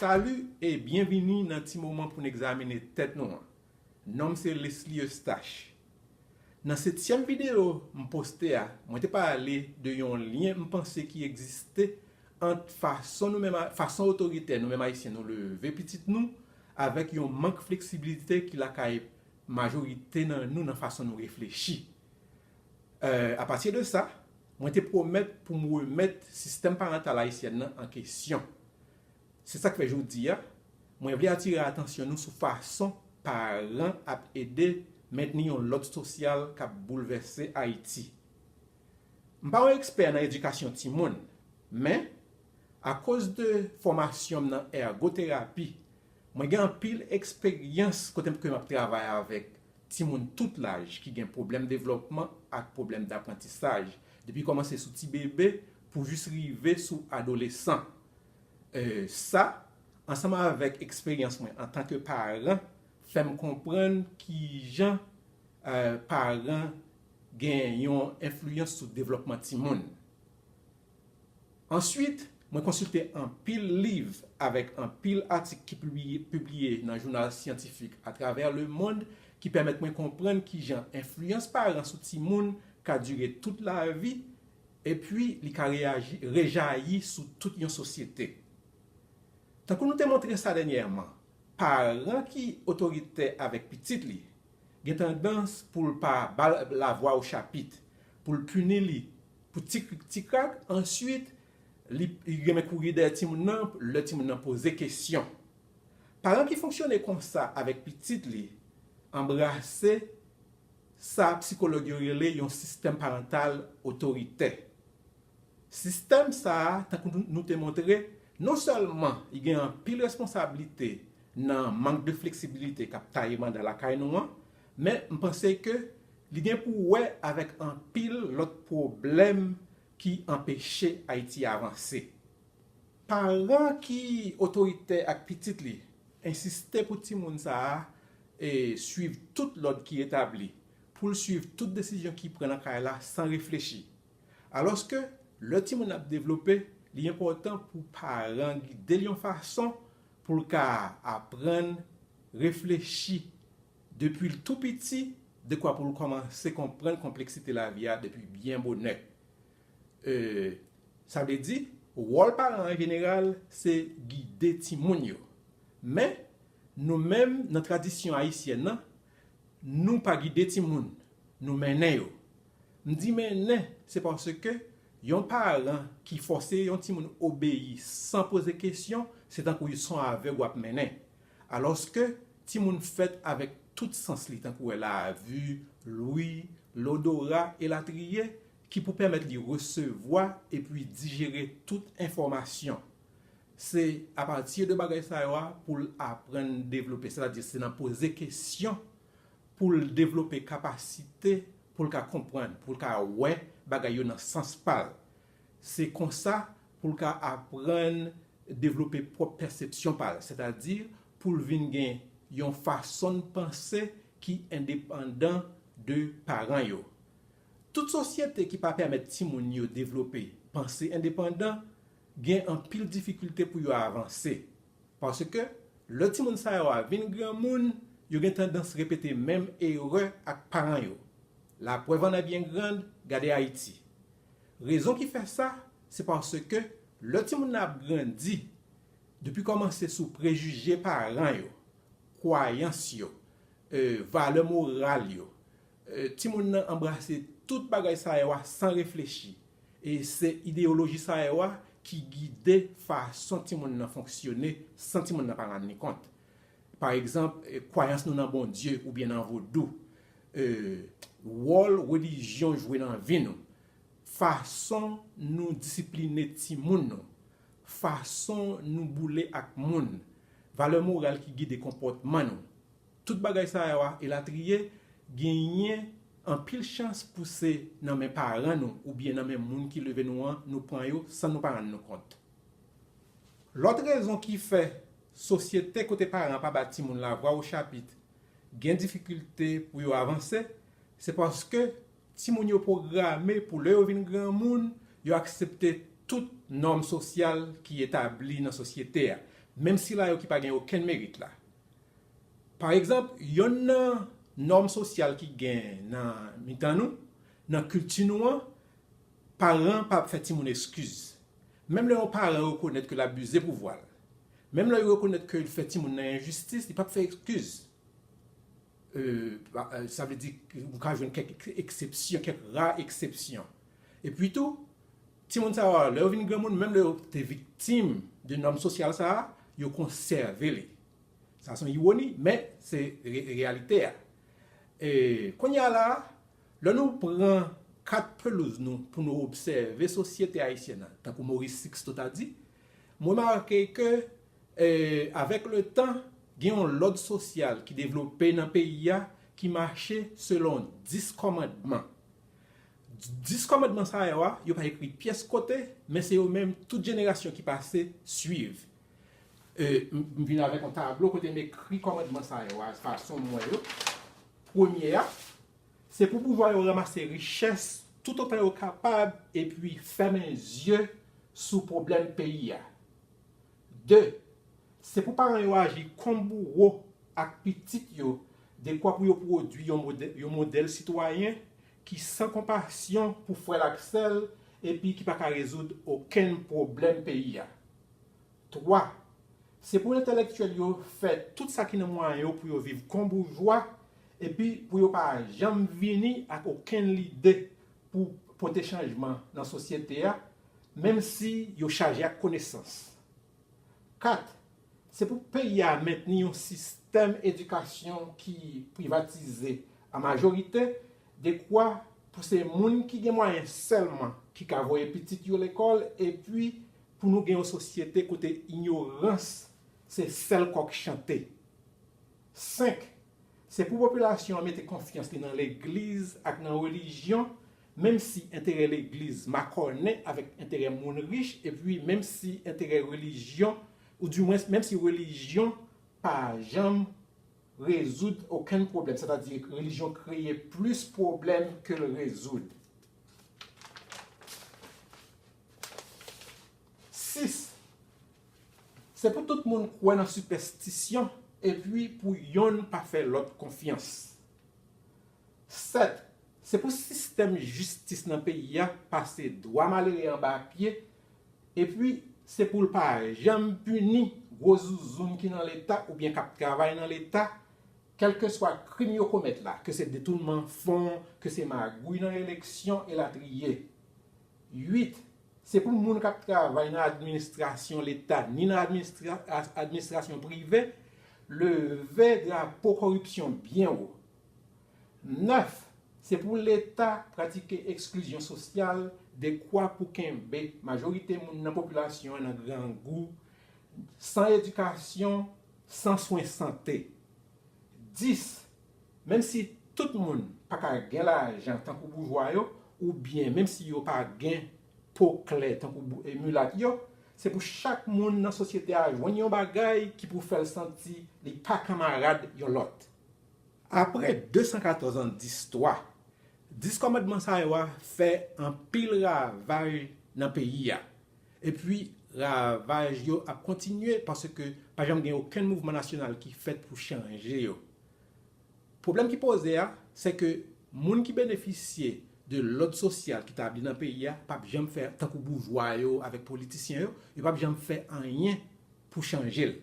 Salut e byenvini nan ti moman pou n egzamine tèt nou an. Non m se Lesly Eustache. Nan setyèm videyo m poste a, mwen te pale de yon lyen m panse ki egziste ant fason nou menm, fason otoritè nou menm Ayisyen nou leve pitit nou Avèk yon mank fleksibilite ki lakay majorite nan nou nan fason nou reflechi. Apati de sa, mwen te pwomèt pou m remèt sistèm parantal ayisyèn nan an kesyon. Se sa k fè jodi a, mwen vle atire atansyon nou sou fason paran ap ede mentni yon lòd sosyal k ap boulvèse Ayiti. M pa yon ekspè nan edikasyon timoun, men, akoz de fòmasyon m nan ègoterapi, mwen gen anpil eksperyans kote m ke m ap travay avèk timoun tout laj ki gen pwoblèm devlòpman ak pwoblèm daprantisaj, depi kòmanse sou ti bebe pou jis rive sou adolesan. E sa, ansanm avèk eksperyans mwen antanke paran, fè m konprann kijan paran gen yon enfliyans sou devlòpman timoun. Answit, mwen konsilte anpil liv avèk anpil atik ki pibliye nan jounal syantifik atravè lemond ki pèmèt mwen konprann kijan enfliyans paran sou timoun ka dire tout lavi epi li ka rejayi sou tout yon sosyete. Tankou nou te montre sa dènyèman, paran ki otoritè avèk pitit li gen tandans pou l pa ba l lavwa ou chapit, pou l pini li pou ti krik ti krak, answit li renmen kouri dèyè timoun nan lè timoun nan poze kesyon. Paran ki fonksyone konsa avèk pitit li anbrase sa psikològ yo rele yon sistèm parantal otoritè. Sistèm sa a, tankou nou te montre, non sèlman li gen anpil responsablite nan mank de fleksibilite k ap taye manda lakay nou an, men m panse ke li gen pou wè avèk anpil lòt pwoblèm ki anpeche Ayiti avanse. Paran ki otoritè ak pitit li ensiste pou timoun sa a suiv tout lòd ki etabli, pou l suiv tout desizyon ki pran nan kay la san reflechi. Alòske, lè timoun ap devlope, li enpòtan pou paran gide l yon fason Pou l ka aprann reflechi depi l tou piti dekwa pou l kòmanse konprann konpleksite lavi a depi byen bonè. E sa vle di wòl paran an jeneral se gide timoun yo. Men, nou menm nan tradisyon ayisyèn an, nou pa gide timoun, nou mennen yo. M di mennen se paske yon paran ki fòse yon timoun obeyi san poze kesyon se tankou yon son avèg w ap mennen. Alòske timoun fèt avèk tout sans li tankou wè lavi, lwi, lodora elatriye ki pou pèmèt li resevwa epi dijere tout enfòmasyon. Se apati de bagay sa yo a pou l aprann devlope sètadi se nan poze kesyon pou l devlope kapasite pou l ka konprann, pou l ka wè bagay yo nan sans pa l. Se kon sa pou l ka aprann devlope pwòp pèsepsyon pa l, sètadi pou l vin gen yon fason panse ki endepandan de paran yo. Tout sosyete ki pa pèmèt timoun yo devlope panse endepandan gen anpil difikilte pou yo avanse. Paske, lè timoun sa yo a vin granmoun, yo gen tandans repete menm erè ak paran yo. Laprèv annè byen grand, gade Ayiti. Rezon ki fè sa, se paske lè timoun nan ap grandi, depi kòmanse sou prejije paran yo, kwayans yo, valè moral yo, Timoun nan anbrase tout bagay sa yo a san reflechi. E se ideyoloji sa yo a ki gide fason timoun nan fonksyone san timoun nan pa rann li kont. Pa egzanp, kwayans nou nan Bondye oubyen nan vodou. Wòl relijyon jwe nan vi nou. Fason nou disipline timoun nou. Fason nou boule ak moun. Valè moral ki gide konpòtman nou. Tout bagay sa yo a elatriye genyen anpil chans pou se nan men paran nou oubyen nan men moun ki leve nou an nou pran yo san nou pa rann nou kont. Lòt rezon ki fè sosyete kote paran pa ba timoun lavwa ochapit gen difikilte pou yo avanse, se paske timoun yo pwograme pou lè yo vin granmoun yo aksepte tout nòm sosyal ki etabli nan sosyete a, menm sila yo ki pa gen okenn merit la. Pa egzanp, yonn nan nòm sosyal ki gen nan mitan nou, nan kilti nou an, paran pa ap fè timoun eskiz. Menm lè yon paran rekonèt ke l abize pouvwa l, menm lè yo rekonèt ke l fè timoun nan enjistis, li pa ap fè eskiz. Sa vle di, ou ka jwenn kèk eksepsyon, kèk ra eksepsyon. Epitou, timoun sa yo a, lè yo vin granmoun, menm lè yo te viktim de nòm sosyal sa a, yo konsève li. Sa se yon iwoni, men se reyalite a. E, kounye a la a, lè nou pran kat pelouz nou pou nou obsève sosyete ayisyèn nan, tankou Maurice Sixto ta di, m remake ke avèk letan, gen yon lòd sosyal ki devlope nan peyi a ki mache selon 10 kòmandman. Dis kòmandman sa yo a, yo pa ekri pyès kote, men se yo menm tout jenerasyon ki pase suiv. E, m vin avèk yon tablo kote m ekri kòmandman sa yo a fason m wè yo. Premye a, Se pou boujwa yo ranmase richès toutotan yo kapab epi fèmen zye sou pwoblèm peyi a. De, Se pou paran yo aji kon bouwo ak pitit yo dekwa pou yo pwodui yon modèl sitwayen ki san konpasyon pou frè l ak sè l epi ki pa ka rezoud okenn pwoblèm peyi a. Twa, se pou entelektyèl yo fè tout sa ki nan mwayen yo pou yo viv kon boujwa epi pou yo pa janm vini ak okenn lide pou pote chanjman nan sosyete a, menm si yo chaje ak konesans. 4, Se pou peyi a mentni yon sistèm edikasyon ki privatize an majorite, dekwa pou se moun ki gen mwayen sèlman ki ka voye pitit yo lekòl epi pou nou gen yon sosyete kote inyorans se sèl kòk chante. 5, Se pou popilasyon an mete konfyans li nan legliz ak nan relijyon Menm si enterè legliz makònen avèk enterè moun rich epi menm si enterè relijyon ou di mwens menm si relijyon pa janm rezoud okenn pwoblèm, sètadi relijyon kreye plis pwoblèm ke l rezoud. 6, Se pou tout moun kwè nan sipèstisyon epi pou yonn pa fè lòt konfyans. 7, Se pou sistèm jistis nan peyi a pase dwa malere anba pye, epi se pou l pa janm pini gwo zouzoun ki nan Leta oubyen k ap travay nan Leta, kèlkeswa krim yo komèt la, ke se detounman fon, ke se magouy nan eleksyon, elatriye. 8, Se pou moun k ap travay nan administrasyon Leta ni nan administrasyon prive leve drapo koripsyon byen wo. 9, Se pou Leta pratike eksklizyon sosyal dekwa pou kenbe majorite moun nan popilasyon an nan grangou, san edikasyon, san swen sante. 10, Menm si tout moun pa ka gen lajan tankou boujwa yo, oubyen menm si yo pa gen po klè tankou milat yo, se pou chak moun nan sosyete a jwenn yon bagay ki pou fè l santi li pa kanmarad yon lòt. Apre 214 an distwa, Dis Kòmandman sa yo a fè anpil ravaj nan peyi a. Epi, ravaj yo ap kontinye paske pa janm gen okenn mouvman nasyonal ki fèt pou chanje yo. Pwoblèm ki poze a, se ke moun ki benefisye de lòd sosyal ki tabli nan peyi a pap janm fè tankou boujwa yo avèk politisyen yo, yo pap janm fè anyen pou chanje l.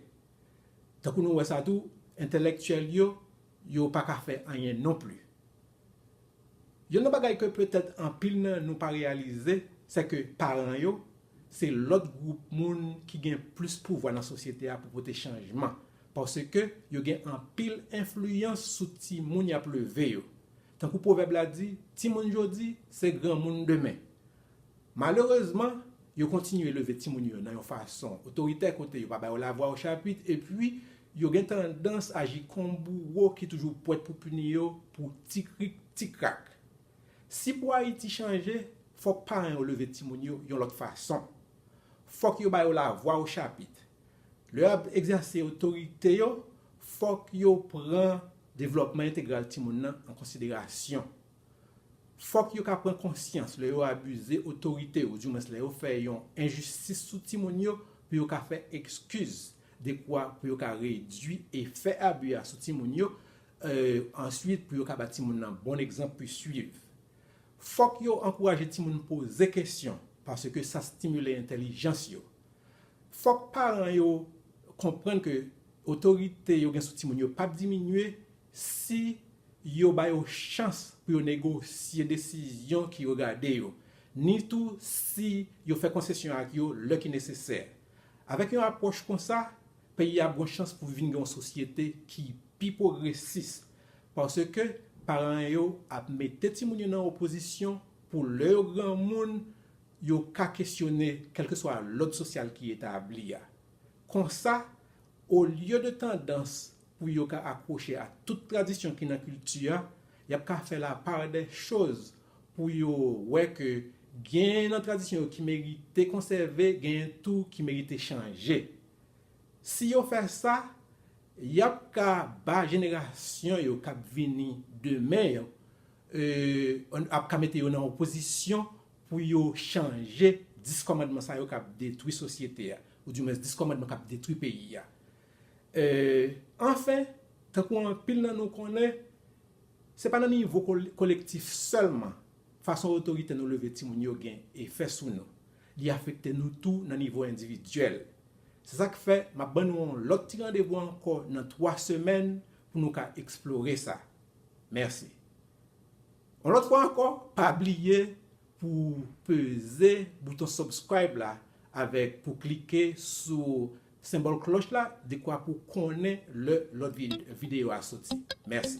Tankou nou wè sa tou, entèlèktyèl yo, yo pa ka fè anyen non pli. Youn nan bagay ke petèt anpil nan nou pa reyalize, sè ke paran yo, se lòt gwoup moun ki gen plis pouvwa nan sosyete a pou pote chanjman, paske yo gen anpil enfliyans sou timoun y ap leve yo. Tankou pwovèb la di, timoun jodi, se granmoun demen. Malerezman, yo kontinye leve timoun yo nan yon fason otoritè kote yo pa ba yo lavwa ochapit epi yo gen tandans aji kon bouwo ki toujou pwèt pou pini yo pou ti krik ti krak. Si pou Ayiti chanje, fòk paran yo leve timoun yo yon lòt fason. Fòk yo ba yo lavwa ochapit. Lè y ap egzèse otorite yo, fòk yo pran devlòpman entegral timoun nan an konsiderasyon. Fòk yo ka pran konsyans lè yo abize otorite ou di mwens lè yo fè yon enjistis sou timoun yo pou yo ka fè ekskiz dekwa pou yo ka redui efè abi a sou timoun yo answit pou yo ka ba timoun nan bon egzanp pou swiv. Fòk yo ankouraje timoun poze kesyon paske sa stimile entèlijans yo. Fòk paran yo konprann ke otorite yo gen sou timoun yo pap diminye Si yo ba yo chans pou yo negosye desizyon ki yo gade yo, ni tou si yo fè konsesyon ak yo lè ki nesesè. Avèk yon apwòch konsa, peyi a ap gon chans pou vin gen yon sosyete ki pi pwogresis, paske paran yo ap mete timoun yo nan yon pozisyon pou lè yo granmoun, yo ka kesyone kèlkeswa lòd sosyal ki etabli a. Konsa, Olye de tandans pou yo ka akwoche a tout tradisyon ki nan kilti a, y ap ka fè lapardèchoz pou yo wè ke genyen nan tradisyon yo ki merite konsève, genyen tou ki merite chanje. Si yo fè sa, y ap ka ba jenerasyon yo k ap vini demen yo, yo ap ka mete yo nan yon pozisyon pou yo chanje 10 kòmandman sa yo k ap detwi sosyete a, ou di mwens 10 kòmandman k ap detwi peyi a. E, anfen, tankou anpil nan nou konnen, se pa nan nivo kolektif sèlman fason otoritè nou leve timoun yo gen efè sou nou, li afekte nou tou nan nivo endividyèl. Se sa k fè m ap ban nou yon lòt ti randevou ankò nan twa semèn pou nou ka eksplore sa. Mèsi. Yon lòt fwa ankò pa bliye pou w peze bouton subscribe la avèk pou klike sou senbòl klòch la dekwa pou w konnen lè lòt videyo a soti. Mèsi.